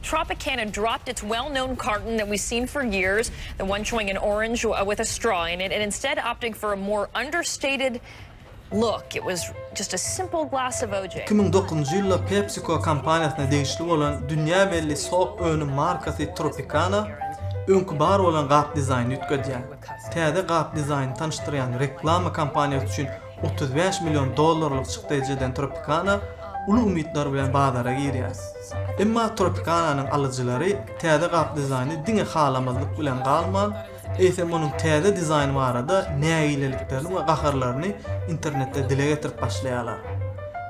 Tropicana dropped its well-known carton that we've seen for years, the one showing an orange with a straw in it, and instead opting for a more understated look. It was just a simple glass of OJ. Iki müň dokuzynjy ýylda PepsiCo kompaniýasyna degişli bolan dünýä belli sok önüm markasy Tropicana öňki bar bolan gap dizaýny üýtgedýär. Täze gap dizaýny tanyşdyrýan reklama kompaniýasy üçin Otuz bäş million dollarlyk çykdaýjy eden Tropicana uly umytlar bilen bazara girýär. Emma Tropicana-nyň alyjylary täze gap dizaýny diňe halamazlyk bilen galman, eýsem onuň täze dizaýny barada nägileliklerini we gaharlaryny internetde dile getirip başlaýarlar.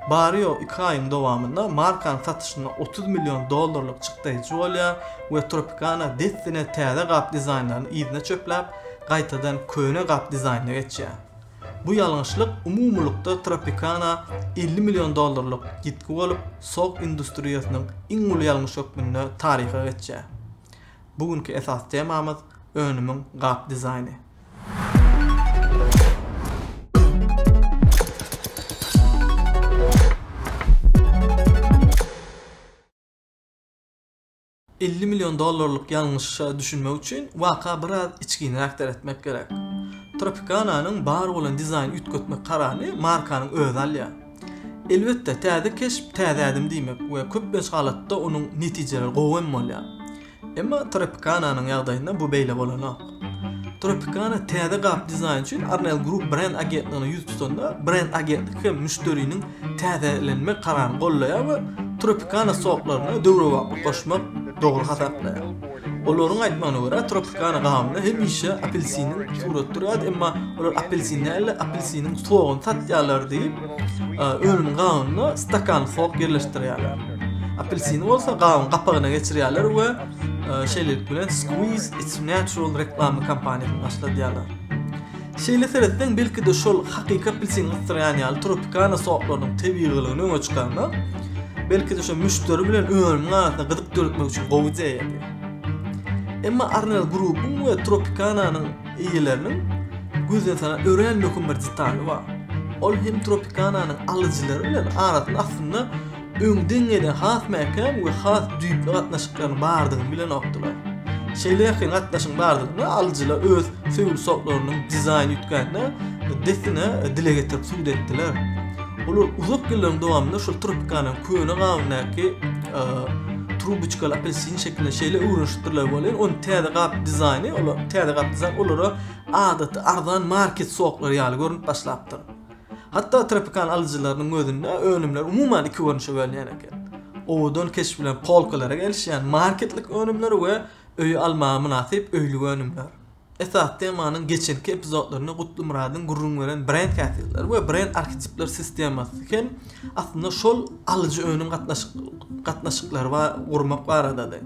Bary-ýogy iki aýyň dowamynda markanyň satyşynda otuz million dollarlyk çykdaýjy bolýar we Tropicana dessine täze gap dizaýnlaryny yzyna çöpläp, gaýtadan köne gap dizaýnyna geçýär. Bu ýalňyşlyk umumylykda Tropicana elli million dollarlyk ýitgi bolup, sok industriýasynyň iň uly ýalňyş hökmünde taryha geçýär. Bu günki esasy temamyz, önümiň gap dizaýny. Elli million dollarlyk ýalňyşa düşünmek üçin waka biraz içginräk seretmek gerek. Tropicana-nyň bar bolan dizaýnyny üýtgetmek kararyny markanyň özi alýar. Elbetde, täze keşp täze ädim diýmek we köplenç halatda onuň netijeleri gowy hem bolýar. Emma Tropicana-nyň ýagdaýynda bu beýle bolanok. Tropicana täze gap dizaýny üçin Arnell Group brend agentligine ýüz tutanda, brend agentlik hem müşderiniň täzelenme kararyny goldaýar we Tropicana soklaryna döwrebaplyk goşmak dogry hasaplaýar. Olaryň aýtmagyna görä, Tropicana gabynda hemişe apelsiniň suraty durýardy, emma olar apelsin däl-de, apelsiniň soguny satýarlar diýip, önümiň gabynda stakan sok ýerleşdirýärler. Apelsini bolsa gabyň gapagyna geçirýärler we Şeýlelik bilen Squeeze It's Natural reklamly kampaniýasyny başladýarlar. Şeýle seretseň, belki-de şol hakyky apelsin gysdyrýan ýaly Tropicana soklarynyň tebigylygyny öňe çykarmak, belki-de şo müşderi bilen önümiň arasynda gyzyk döretmek üçin gowy ideýady. Emma Arnel Grupuň we Tropicananyň eýeleriniň gözden salan örän möhüm bir detaly bar. Ol hem Tropicananyň alyjylary bilen arasyny aslynda öň deňeýden has mäkäm we has düýpli gatnaşyklaryň bardygyny bilenokdylar. Şeýle ýakyn gatnaşygyň bardygyny alyjylar öz söýgi soklarynyň dizaýn üýtgänine dessine dile getirip subut etdiler. Olar uzak ýyllaryň dowamynda şol Tropicana-nyň köne gabyndaky trubuçkaly apelsin şekilini şeýle öwrenişipdirler welin, onuň täze gap dizaýny, olar täze gap dizaýny olara adaty arzan market soklary ýaly görünip başlapdyr. Hatda tropikan alyjylarynyň gözünde önümler umuman iki görnüşe bölünýän eken. Owadan keşp bilen polkalara gelişýän marketlik önümler we öýe almaga mynasyp öýlük önümler. Esasy temanyň geçenki epizodlarynda Gutlymyradyň gürrüň beren brend häsiýetleri we brend arhetipler sistemasy hem Aslynda şol alyjy-önüm gatnaşyklary we gurmak baradady.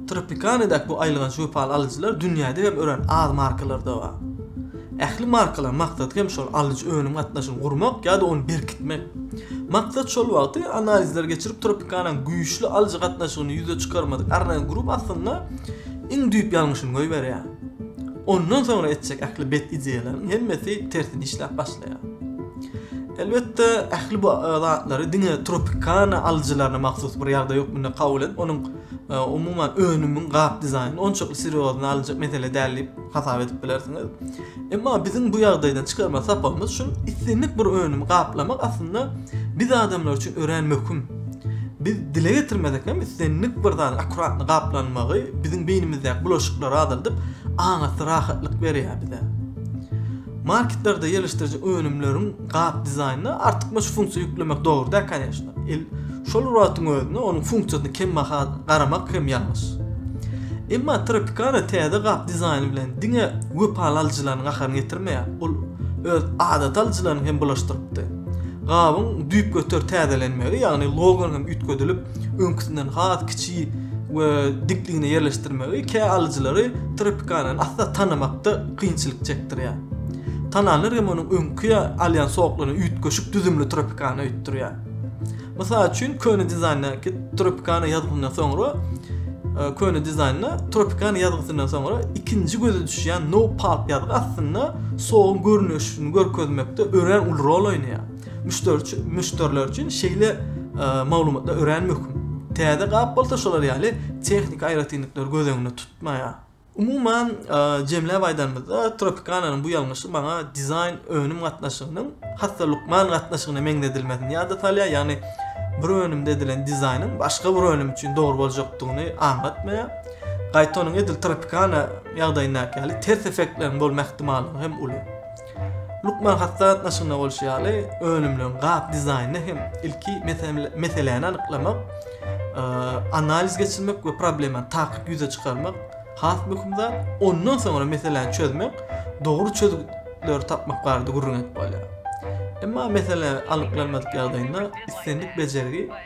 Tropicana-daky bu aýylganç wepaly alyjylar dünýäde hem örän az markalarda bar. Ähli markalaryň maksady hem şol alyjy-önüm gatnaşygyny gurmak ýa-da ony berkitmek. Maksat şol wagty analizleri geçirip Tropicana-nyň güýçli alyjy gatnaşygyny ýüze çykarmadyk Arnay Group aslynda iň düýp ýalňyşyny goýberýär. Ondan soňra etjek ähli bet ideýalaryň hemmesi tersine işläp başlaýar. Elbetde, ähli bu zatlary diňe Tropicana alyjylaryna mahsus bir ýagdaý hökmünde kabul edip, onuň umuman önümiň gap dizaýnyny onçakly serýozna alynjak mesele däl diýip hasap edip bilersiňiz. Emma biziň bu ýagdaýdan çykarma sapagymyz şul, islendik bir önümi gaplamak aslynda biz adamlar üçin örän möhüm. Biz dile getirmesek hem islendik bir zat akkuratny gaplanmagy biziň beýnimizdäki bulaşyklary azaldyp, aňyrsy rahatlyk berýär bize. Marketlerde ýerleşdiriji önümleriň gap dizaýnyna artykmaç funksiýa ýüklemek dogry däl koneçna. El şol wagtyň özünde onuň funksiýasyna kembaha garamak hem ýalňyş. Emma Tropicana täze gap dizaýny bilen diňe wepaly alyjylaryň gaharyny getirmeýär, ol öz adaty alyjylaryny hem bulaşdyrypdy. Gabyň düýpgöter täzelenmegi, ýagny logonyň üýtgedilip, öňküsinden has kiçi we dikligine ýerleşdirmegi kä alyjylary Tropicanany asla tanamakda kynçylyk çekdirýär. Kanallar hem onuň öňki alýan soklaryna üýtgeşik düzümli Tropicana öýtdürýär. Mysal üçin, köne dizaýndäki Tropicana ýazgysyndan soňra köne dizaýnda Tropicana ýazgysyndan soňra ikinji göze düşýän No Pulp ýazgy aslynda soguň görnüşini görkezmekde örän uly rol oýnaýar. Müşderi müşderiler üçin şeýle maglumatlar örän möhüm. Täze gap bolsa şolar ýaly tehniki aýratynlyklary göz öňünde tutmaýar. Umuman, jemläp aýdanymyzda, Tropicananyň bu ýalňyşy maňa dizaýn-önüm gatnaşygynyň has-da lukman gatnaşygyna meňzedilmesini ýada salýar, ýagny bir önümde edilen dizaýnyň başga bir önüm üçin dogry boljakdygyny aňlatmaýar. Gaýta onuň edil Tropicana ýagdaýyndaky ýaly ters effektleriň bolma ähtimallygy hem uly. Lukman hat gatnaşygynda bolşy ýaly, önümleriň gap dizaýnyny hem ilki meseläni anyklamak, analiz geçirmek we problemany takyk ýüze çykarmak has möhüm zat. Ondan soňra meseläni çözmek, dogry çözgütleri tapmak barada gürrüň edip bolýar. Emma mesele anyklanmadyk ýagdaýynda islendik bejergi